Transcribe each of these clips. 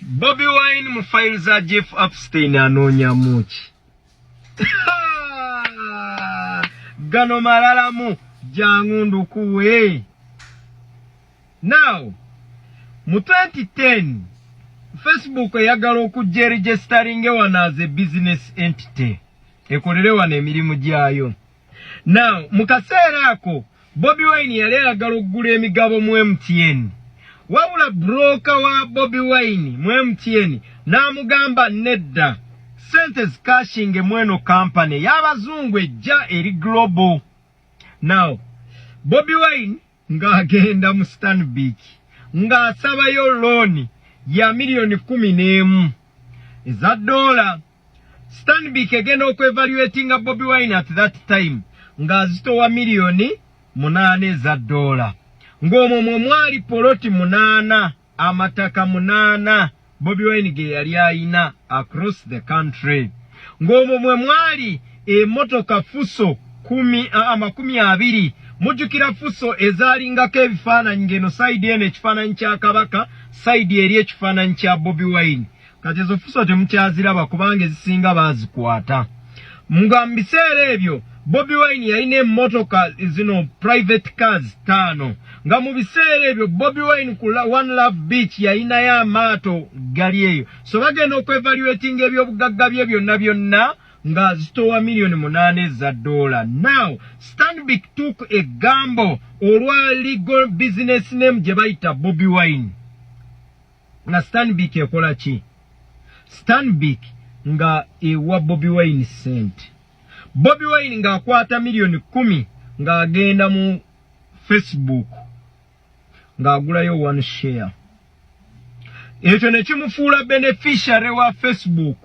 Bobby Wine mu file za Jeff Epstein anoonya muki gano malalamu jangu ndukuwe now mu 2010 Facebook eyagala okujja eregisteringe wano as a business entity ekolere wano emirimu gyayo Now, mu kaseera ako Bobi Wine yali ayagala okugula emigabo mu MTN. Wabula broka wa Bobi Wine mu MTN n'amugamba nedda, sente zikashinge mweno kampani y'abazungu ejja eri global. Now, Bobi Wine ng'agenda mu Stanbic ng'asabayo looni ya miliyoni kkumi n'emu eza doola. Stanbic egenda okwevaluatinga Bobi Wine at that time ng'azitowa miliyoni munaana eza doola ng'omwo mwe mwali poloti munaana. amataka munaana bobi wine ge yali ayina across the country ng'omwo mwe mwali emotoka fuso kumi amakumi abiri mujjukira fuso ezaalingako ebifaananyi ng'eno sayidi eno ekifaananyi kya kabaka sayidi eri ekifaananyi kya bobi wine kati ezo fuso temukyaziraba kubanga ezisinga bazikwata nga mu biseera ebyo bobi wine yalina emotoka zino private cars taano nga mu biseera ebyo bobi wine ku one love beach yalinayo amaato gali eyo so bagenda okwevaluatinga ebyobugagga bye byonna byonna nga zitowa miliyoni munaana eza dola now stanbic took a gambo olwa legal business name gye bayita bobi wine nga stanbic ekola ki stanbic nga ewa bobi wine sent bobi wine nga akwata miliyoni kumi nga agenda mu facebook nga agulayo one share ekyo nekimufuula beneficiary wa facebook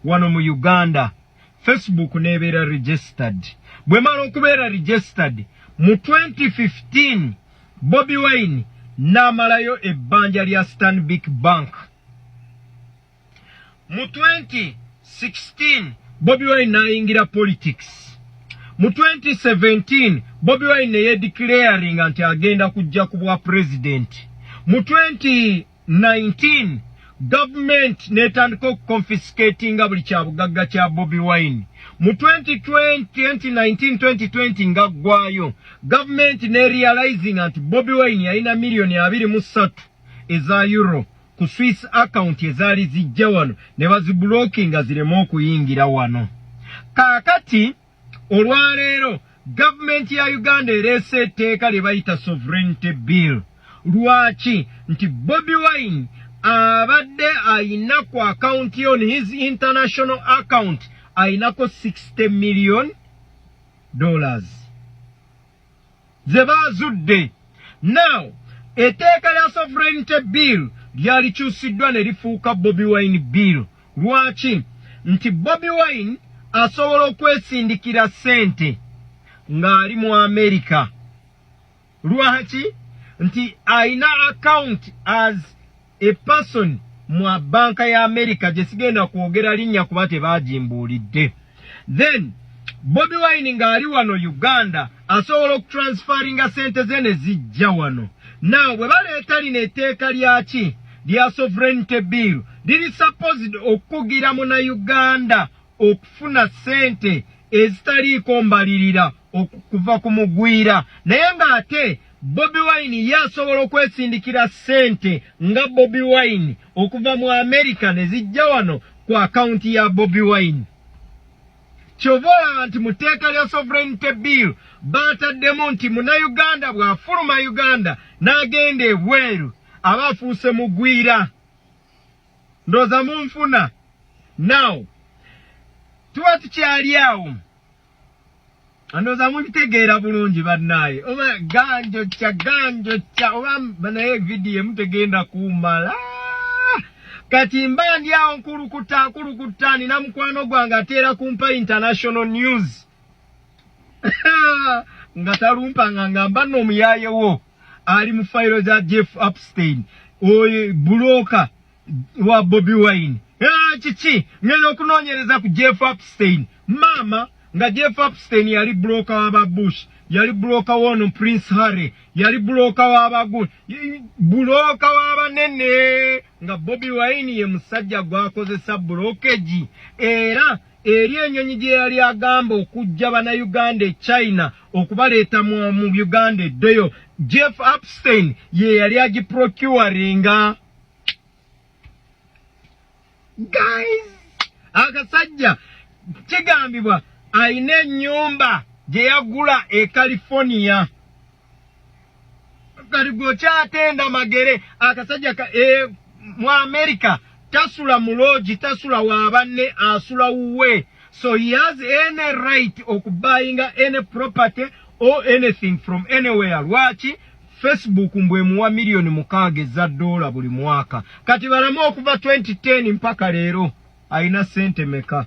wano mu uganda facebook nebeera registered bwemala okubeera registered mu 2015 bobi wine namalayo ebbanja lya stanbic bank mu 2016 bobi wine nayingira politics mu 2017 bobi wine neyedeclaringa nti agenda kujja ku bwa president mu 20 19 gavumenti n'etandika okuconfiscatinga buli kyabugagga kya bobi wine mu 2019-2020 nga ggwayo gavumenti nerealizinga nti bobi wine yalina miliyoni 23 eza euro ku swiss account ezaali zijja wano ne bazibulokinga zireme okuyingira wano kaakati olwaleero gavumenti ya uganda ereese etteeka lye bayita sovereignty bill lwaki nti bobi wine abadde ayina ku akawunti on his international account ayinako 60 million dollars ze baazudde now eteeka lya sovereignty bill lyalikyusiddwa ne lifuuka bobi wine bill lwaki nti bobi wine asobola okwesindikira ssente ng'ali mu amerika lwaki nti alina akawunti as A person mu banka ya America gye sigenda kwogera linnya kuba tebaagimbuulidde. Then Bobi Wine ng'ali wano Uganda asobola okutransferinga ssente ze ne zijja wano. Now bwe baleeta lino etteeka lyaki lya sovereignty bill liri supposed okukugira muna Uganda okufuna ssente ezitaliiko mbalirira okuva ku mugwira naye ng'ate bobi wine ye asobola okwesindikira ssente nga bobi wine okuva mu amerika ne zijja wano ku akawunti ya bobi wine kyova olaba nti mu tteeka lya sovereignty bill baataddemu nti munauganda bw'afuluma uganda n'agenda ebweru aba afuuse mugwira ndoza munfuna now tuba tukyali awo ndoza mubitegeera bulungi bannaaye oba ganjo kya ganjo kya oba banaye vidiyo emu tegenda kumala kati mba ndi awo nkulukuta nkulukuta nina mukwano gwange ateera kumpa international news nga talumpa nga ngamba no omuyayewo ali mu fayiro za jeff upstein oyo bulooka wa bobi wine eh, kiki ngenda okunoonyereza ku jeff upstein maama nga jeff upstein yali bulooka waba bush yali bulooka woono prince harry yali bulooka wabagun bulooka wabanene nga bobi wine ye musajja gwakozesa bulokegi era eri enyonyi gye yali agamba okujja banauganda e china okubaleeta mu uganda eddeyo jeff upstein ye yali agiprocuringa guys akasajja kigambibwa alina enyumba gye yagula e california kati gwe okyatenda magere akasajja ka e, mu amerika tasula muloogi tasula wabanne asula wuwe so he has any right okubuyinga any property or anything from anywhere lwaki facebook mbwemuwa miliyoni mukaaga eza doola buli mwaka kati balamu okuva 2010 mpaka leero alina sente meka